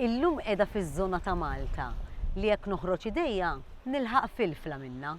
Illum qiegħda fiż-żona ta' Malta li jekk noħroġ idejja nilħaq filfla minnha.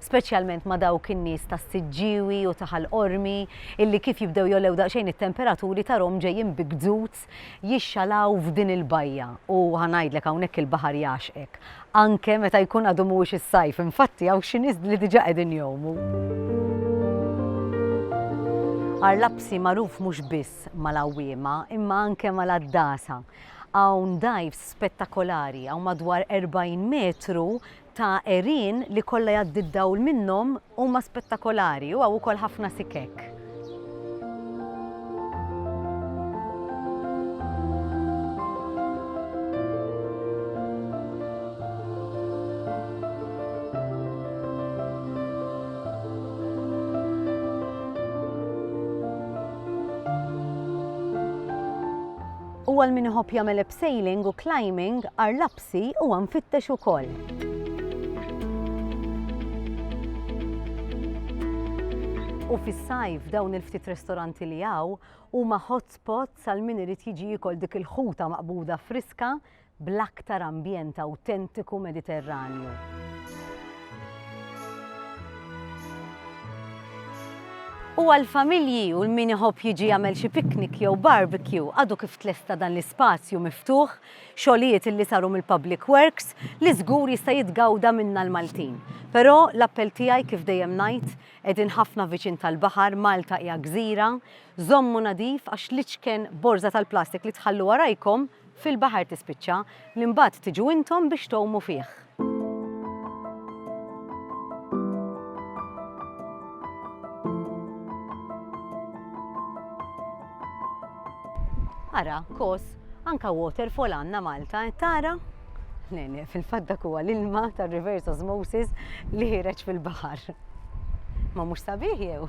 speċjalment ma' dawk in-nies tas-Siġġiewi u ta' Ħal Qormi illi kif jibdew jogħlew daqsxejn it-temperaturi tarhom ġejjin bi gzuz jixxalaw f'din il-bajja u ħa ngħidlek hawnhekk il-baħar jagħxqek anke meta jkun għadu mhuwiex is-sajf infatti hawn xi nies li diġà qegħdin jgħumu. Għar Lapsi magħruf mhux biss mal-għawwiema imma anke mal-għaddasa. Hawn dgħajfs spettakolari hawn madwar 40 metru ta' għerien li kollha jgħaddi d-dawl minnhom huma spettakolari u hawn ukoll ħafna sikek. Huwa għal min iħobb jagħmel abseiling u climbing għar Grazzi, huwa mfittex ukoll. U fis-sajf dawn il-ftit ristoranti li hawn huma hotspot sal min irid jiġi jikol dik il-ħuta maqbuda friska bl-aktar ambjent awtentiku Mediterranju. U għal-familji u l-min iħobb jiġi jagħmel xi piknik jew barbecue għadu kif tlesta dan l-ispazju miftuħ xogħlijiet illi saru mill-Public Works li żgur jista' jitgawda minna l-Maltin. Però l-appell tiegħi kif dejjem ngħid, qegħdin ħafna viċin tal-baħar, Malta hija gżira, żommu nadif għax l-iċken borża tal-plastik li tħallu warajkom fil-baħar tispiċċa, li mbagħad tiġu intom biex tgħumu fih. Ara, kos, anka waterfall għanna Malta, eh, tara? Nene, fil-fat dak huwa l-ilma ta' reverse osmosis li ħireġ fil-baħar. Ma mhux sabiħ jew?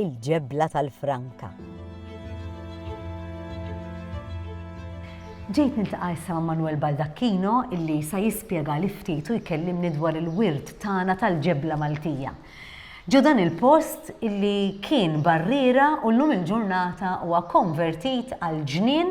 il-ġebla tal-franka. Ġejt niltaqa' issa ma' Manuel Baldacchino illi sa jispjega li ftit u jkellimni dwar il-wirt tagħna tal-ġebla Maltija. Ġo dan il-post illi kien barriera u llum il-ġurnata huwa konvertit għal ġnien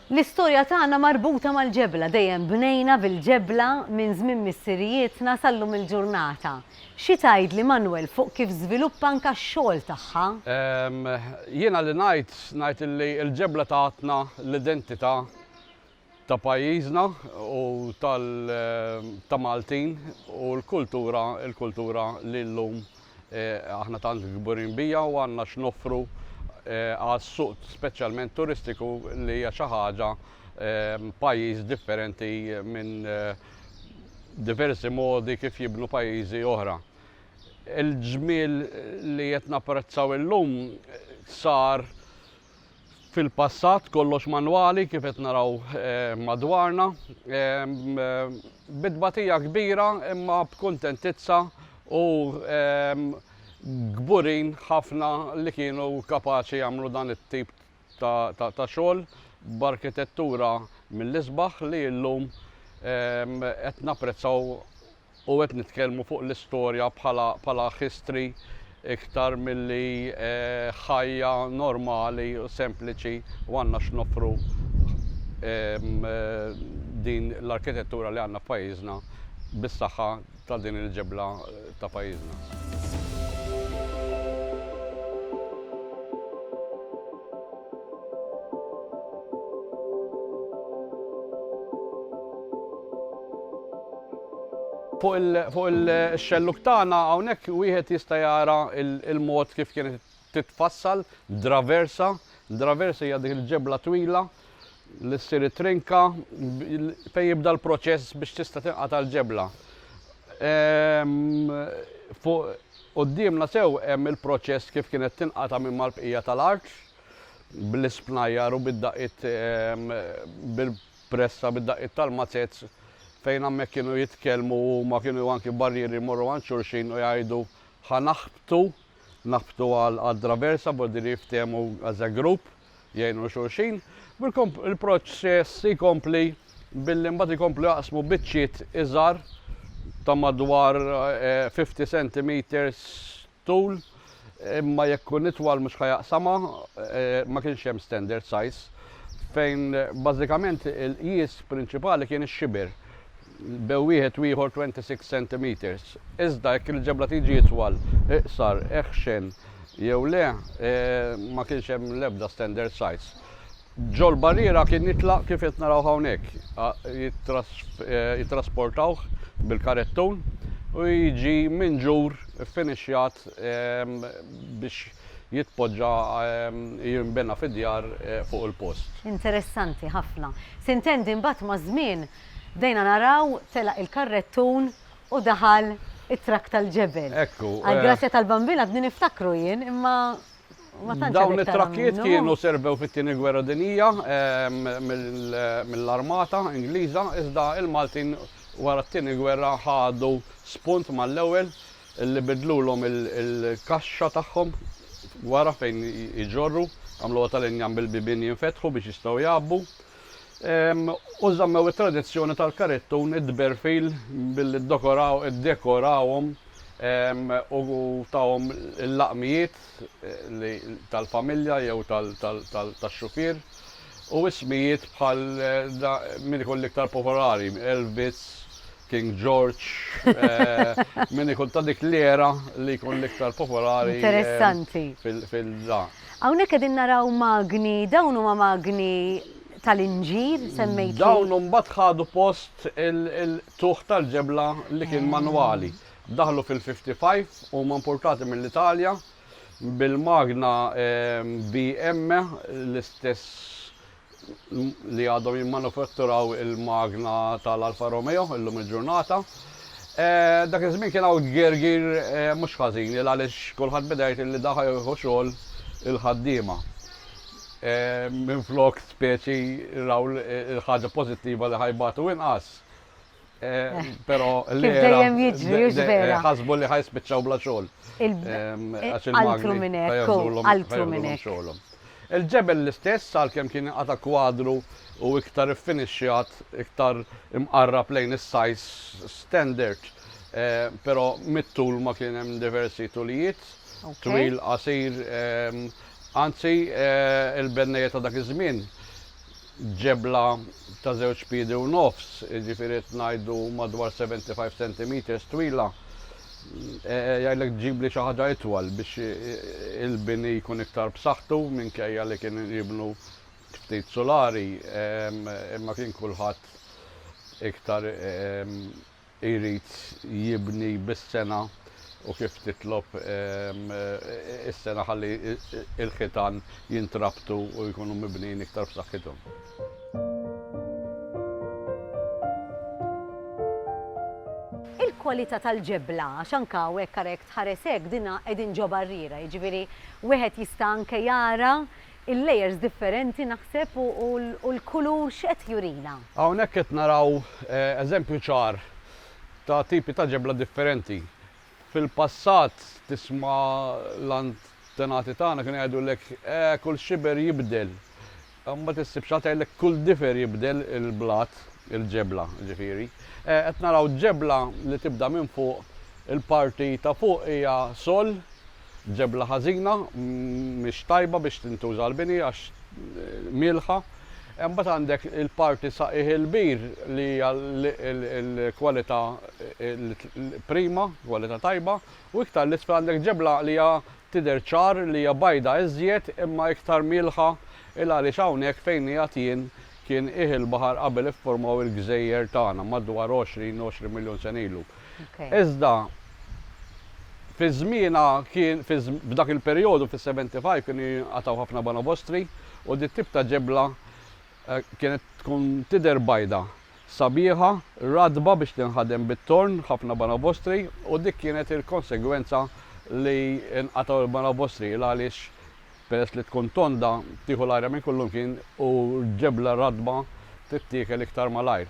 L-istorja tagħna marbuta mal-ġebla, dejjem bnejna bil-ġebla minn żmien missirijietna sal-lum il-ġurnata. Xi tgħidli Manwel fuq kif żviluppa anke x-xogħol tagħha? Jiena li ngħid, ngħid li l-ġebla tatna l-identità ta' pajjiżna u ta' Maltin u l-kultura, il-kultura li llum Aħna tant kburin bija u għandna x'noffru għas-suq speċjalment turistiku li hija xi ħaġa pajjiż differenti minn diversi modi kif jibnu pajjiżi oħra. Il-ġmiel li qed napprezzaw illum sar fil-passat kollox manwali kif qed naraw madwarna, bi tbatija kbira imma b'kuntentizza u kburin ħafna li kienu kapaċi jagħmlu dan it-tip ta' xogħol b'arkitettura mill-isbaħ li llum qed napprezzaw U qed nitkellmu fuq l-istorja bħala bħala history iktar milli ħajja normali u sempliċi u għandna x'noffru din l-arkitettura li għandna f'pajjiżna bis-saħħa ta' din il-ġebla ta' pajjiżna. Fuq il-xellug tagħna hawnhekk wieħed jista' jara l-mod kif kienet titfassal draversa. Draversa hija dik il-ġebla twila li ssir trinka fejn jibda l-proċess biex tista' tinqata' l-ġebla. Ehm, Quddiemna sew hemm il-proċess kif kienet tinqata' minn mal-bqija tal-art, bl-ispnajjar u bid-daqqiet bil-pressa, bid-daqqiet tal-mazez, fejn hemmhekk kienu jitkellmu huma, kienu anki barrieri jmorru għand xulxin u jgħidu ħa naħbtu, naħbtu għal traversa, b'hekk din jiftehmu as a group. jgħinu xulxin. Il-proċess jkompli billi mbagħad ikomplu jaqsmu biċċiet iżgħar ta' madwar 50 eh, cm tul imma jekk kun itwal mhux ħajaqsama eh, ma kienx hemm standard size fejn bażikament il-qis prinċipali kien ix-xiber bejn wieħed u ieħor 26 centimetres, iżda jekk il-ġebla tiġi itwal, iqsar, eħxen jew le, ma kienx hemm l-ebda standard size. Ġol-barriera kien jitlaq kif qed naraw hawnhekk, jittrasportawh bil-karettun u jiġi minġur ffinixxjat biex jitpoġġa jinbena fid-djar fuq il-post. Interessanti ħafna. Sintendi mbagħad maż-żmien Bdejna naraw, telaq il-karrettun u daħal it-trakk tal-ġebel. Ekku. Għall-grazzja tal-Bambin għadni niftakru jien, imma ma tantx għadek tara minnu. Dawn it-trakkijiet kienu servew fit-Tieni Gwerra Dinjija mill-Armata Ingliża, iżda l-Maltin wara t-Tieni Gwerra ħadu spunt mal-ewwel li bidlulhom il-kaxxa tagħhom wara fejn iġorru, għamluha tal-injam bil-bibien jinfetħu biex jistgħu jgħabbu. u żammew it-tradizzjoni tal-karittun, id-dberfil, billi ddokoraw, iddekorawhom u tawhom il-laqmijiet li tal-familja jew tax-xufier u ismijiet bħal min ikun l-iktar popolari, Elf Bits, King George, min ikun ta' dik l-era li jkun l-iktar popolari. Interessanti. Fil-da. Hawnhekk qegħdin naraw magni, dawn huma magni tal-inġir semmejt. Dawn imbagħad ħadu post il-tuħ tal-ġebla li kien manwali. Daħlu fil-55, huma importati mill-Italja bil-magna BM, l-istess li għadhom jimmanufatturaw il-magna tal-Alfa Romeo illum il-ġurnata. Dak iż-żmien kien hawn gergir mhux ħażin il għaliex kulħadd beda jgħid li daħa jieħu xogħol il-ħaddiema. Minflok speċi raw il-ħaġa pożittiva li ħajbatu inqas. Pero li. Dejjem jiġri, jux vera. Ħasbu li ħajs bieċaw bla xol. Altru minnek, altru minnek. Il-ġebel l-istess, għal kem kien għata kwadru u iktar finishjat, iktar imqarrab lejn is-sajs standard, pero mit-tul ma kien hemm diversi tulijiet, twil qasir, anzi il-bennejiet ta' dak iż-żmien ġebla ta' żewġ piedi u nofs, jiġifieri qed ngħidu madwar 75 centimetres twila, jgħidlek tġibli xi ħaġa itwal biex il-bini jkun iktar b'saħħtu minkejja li kien jibnu ftit sulari imma kien kulħadd iktar jrid jibni bis-sengħa u kif titlob is-sengħa ħalli l-ħitan jintrabtu u jkunu mibnijin iktar b'saħħithom. Il-kwalità tal-ġebla, għax anke hawnhekk ara jekk tħares hekk dinha qegħdin ġo barriera, jiġifieri wieħed jista' anke jara Il-layers differenti naħseb u l-kulur x'qed jurina? Hawnhekk qed naraw eżempju ċar ta' tipi ta' ġebla differenti. Fil-passat tisma' l-antenati tagħna kienu jgħidulek, eh kull xiber jibdel. Imbagħad issib xi ħadd jgħidlek kull difer jibdel il-blat, il-ġebla ġifieri. Eh qed naraw ġebla li tibda minn fuq, il-parti ta' fuq hija sol, Ġebla ħażina, mhix tajba biex tintuża għall-bini għax mielħa. Imbagħad għandek il-parti saqqiegħ il-bir li hija l-kwalità prima, kwalità tajba, u iktar 'l isfel għandek ġebla li hija tidher ċar li hija bajda iżjed imma iktar mielħa 'l għaliex hawnhekk fejn qiegħed jien kien qiegħ il-baħar qabel iffurmaw il-gżejjer tagħna madwar 20, 20 miljun sena ilu. Iżda fi żmienha kien f'dak il-perjodu fis-75 kienu jinqatgħu ħafna banobostri u di t-tip ta' ġebla kienet tkun tidher bajda, sabiħa, ratba biex tinħadem bit-torn, ħafna banobostri, u dik kienet il-konsegwenza li nqatgħu l-banobostri l għaliex Peress li tkun tonda, tieħu l-ajra minn kullumkien u l-ġebla ratba tittiekel iktar malajr.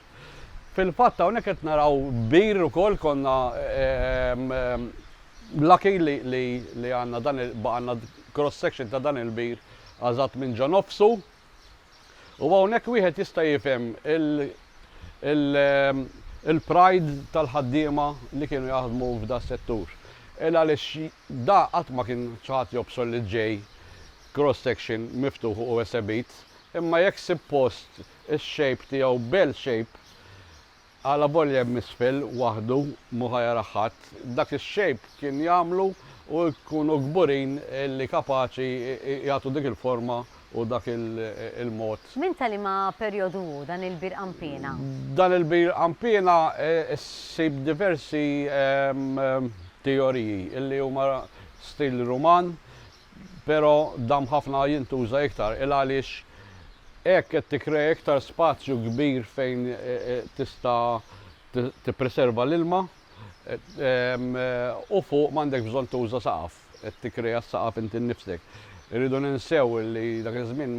Fil-fatt hawnhekk qed naraw bir ukoll konna lucky li għandna dan il-, baqa' għandna cross section ta' dan il-bir għażat minn ġo nofsu. U hawnhekk wieħed jista' jifhem il-pride tal-ħaddiema li kienu jaħdmu f'das-settur. Il għaliex da qatt ma kien xi ħadd jobsor li ġej cross section miftuħ u esebit, imma jekk ssib post ix-shape tiegħu bell shape, Alavolja hemm isfel, waħdu, mhu ħa jarah ħadd, dak ix-xejb kien jagħmlu u jkunu kburin li kapaċi jagħtu dik il-forma u dak il-mod. Minn ta' liema perjodu hu dan il-bir Qanpiena? Dan il-bir Qanpiena ssib diversi teoriji li huma stil Ruman, Pero dam ħafna jintuża iktar il għaliex hekk qed tikkrea iktar spazju kbir fejn tista tippreserva l-ilma u fuq m'għandekx bżonn tuża saqaf, qed tikkrea s-saqaf inti nnifsek. Irridu ninsew li dak iż-żmien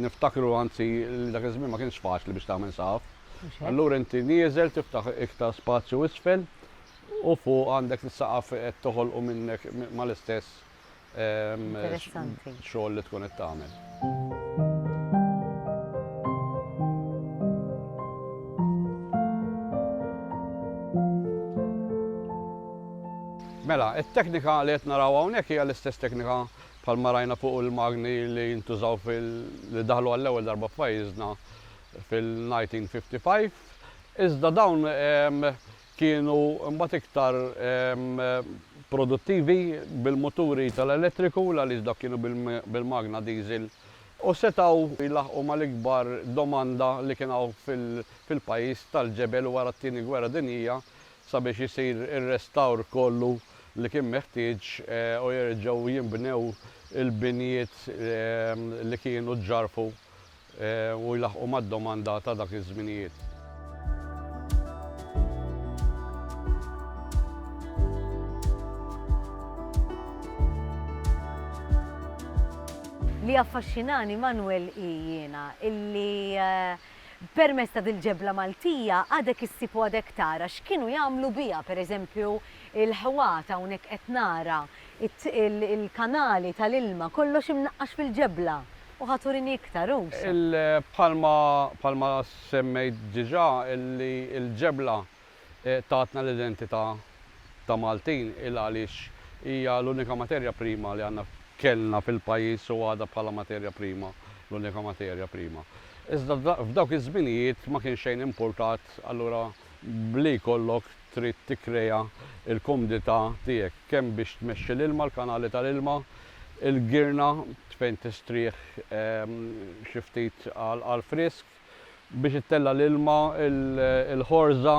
niftakru anzi li dak iż-żmien ma kienx faċli biex tagħmel saqaf. Allura inti nieżel tiftaħ iktar spazju isfel u fuq għandek is-saqaf qed toħolqu minnek mal-istess xogħol li tkun qed tagħmel. Mela, it-teknika li qed naraw hawnhekk hija l-istess teknika bħal ma rajna fuq il-magni li jintużaw fil li daħlu għall-ewwel darba f'pajjiżna fil-1955. Iżda dawn kienu mbagħad iktar produttivi bil-muturi tal-elettriku l-għaliex dawk kienu bil-magna diesel u setgħu jlaħħqu mal-ikbar domanda li kien hawn fil-pajjiż tal-ġebel wara t-Tieni Gwerra Dinjija sabiex isir ir-restawr kollu li kien meħtieġ u jerġgħu jinbnew il-binjiet li kienu ġġarrfu u jlaħħqu mad-domanda ta' dak iż-żminijiet. Li jaffaxxinani, Manwel, hi jiena illi permezz ta' dil-ġebla Maltija għadek issib u għadek tara x'kienu jagħmlu biha, per eżempju, il-ħwat, hawnhekk qed nara il-kanali tal-ilma kollox imnaqqax fil-ġebla. U ħa turini iktar, u sa. Bħalma, bħalma semmejt diġà li l-ġebla tatna l-identità ta' Maltin il-għaliex hija l-unika materja prima li għandna, kellna fil-pajjiż u għadha bħala materja prima l-unika materja prima. Iżda f'dawk iż-żminijiet ma kien xejn impurtat allura b'li jkollok trid tikkrea l-kumdità tiegħek kemm biex tmexxi l-ilma, l-kanali tal-ilma, il-girna fejn tistrieħ xi ftit għall-frisk, biex ittella' l-ilma, il-ħorża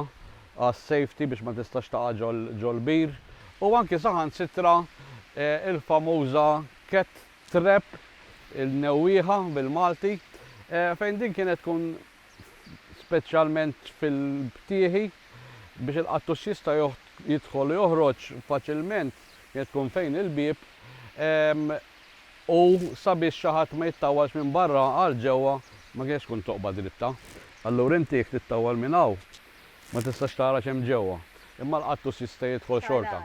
għas-safety biex ma tistax taqa' ġol-bir, u anki saħansitra l-famuża cat trap, il-newwieħa bil-Malti, fejn din kienet tkun speċjalment fil-btieħi, biex il-qattus jista' jidħol u joħroġ faċilment jekk tkun fejn il-bieb, u sabiex xi ħadd ma jittawwalx minn barra għal ġewwa, ma kinitx tkun toqba dritta. Allura inti jekk tittawwal minn hawn, ma tistax tara x'hemm ġewwa, imma l-qattus jista' jidħol xorta.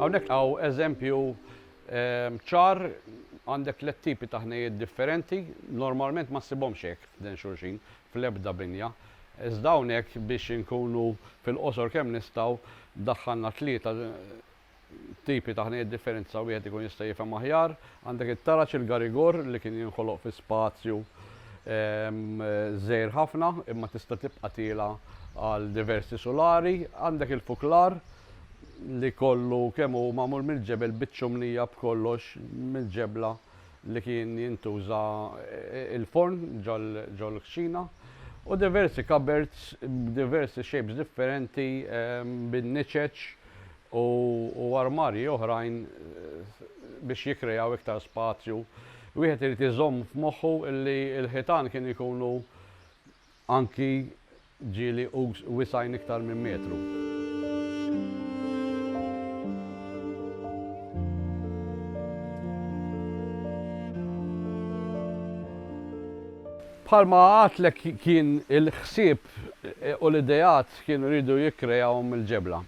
Hawnhekk hawn eżempju Ċar, għandek tliet tipi ta' ħnejjiet differenti, normalment ma ssibhomx hekk ħdejn xulxin fl-ebda binja. Iżda hawnhekk biex inkunu fil-qosor kemm nistgħu, daħħalna tlieta tipi ta' ħnejjiet differenti sa wieħed ikun jista' jifhem aħjar. Għandek it-taraġ, il-garigor, li kien jinħoloq fi spazju żgħir ħafna imma tista' tibqa' tiela' għal diversi sulari. Għandek il-fuklar, li kollu kemm hu magħmul mill-ġebel biċ-ċumnija b'kollox mill-ġebla li kien jintuża l-forn ġol-kċina u diversi cupboards b'diversi shapes differenti bin-niċeċ u armarji oħrajn biex jikkrejaw iktar spazju. Wieħed irid iżomm f'moħħu li l-ħitan kienu jkunu Anki ġieli ugħus wisgħin iktar minn metru. Bħalma għadtlek kien il-ħsieb u l-ideat kienu jridu jikkreawhom il-ġebla.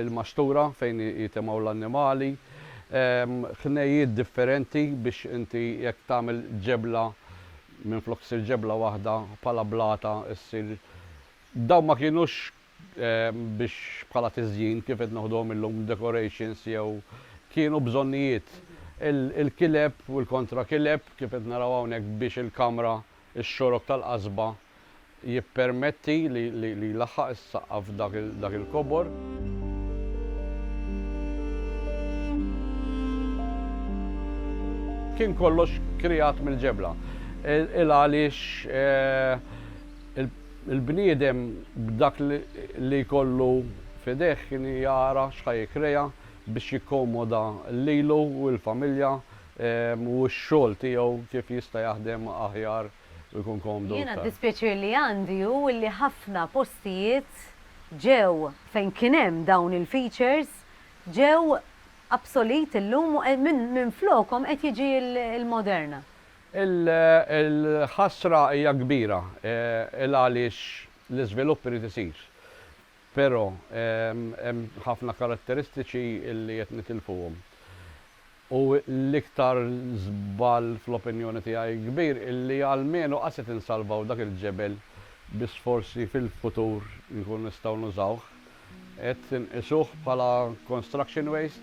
Il-maxtura fejn jitemgħu l-annimali, ħnejjiet differenti biex inti jekk tagħmel ġebla Minflok ssir ġebla waħda bħala blata ssir Dawn ma kienux biex bħala tiżjin kif qed noħduhom illum decorations jew kienu bżonnijiet. Il-kileb u l-kontra kileb kif qed naraw hawnhekk biex il-kamra, ix-xorok tal-qasba jippermetti li jlaħħaq is-saqqa f'dak il-kobor. Kien kollox kreat mill-ġebla. Il-għaliex il-bniedem b'dak li jkollu f'idejh kien jara x'ħa jikkrea biex jikkomoda lilu u l-familja u x-xogħol tiegħu kif jista' jaħdem aħjar. u jkun komdu Jiena aktar. d-dispjaċir li għandi hu li ħafna postijiet ġew, fejn kien hemm dawn il-features, ġew obsolete illum u minflokhom qed jiġi l-Moderna. Il-ħasra hija kbira, il għaliex l-iżvilupp irid isir. Però hemm ħafna karatteristiċi li qed nitilfuhom. U l-iktar żball fl-opinjoni tiegħi kbir illi almenu qas qed insalvaw dak il-ġebel bi sforzi fil-futur inkunu nistgħu nużawh. Qed inqisuh bħala construction waste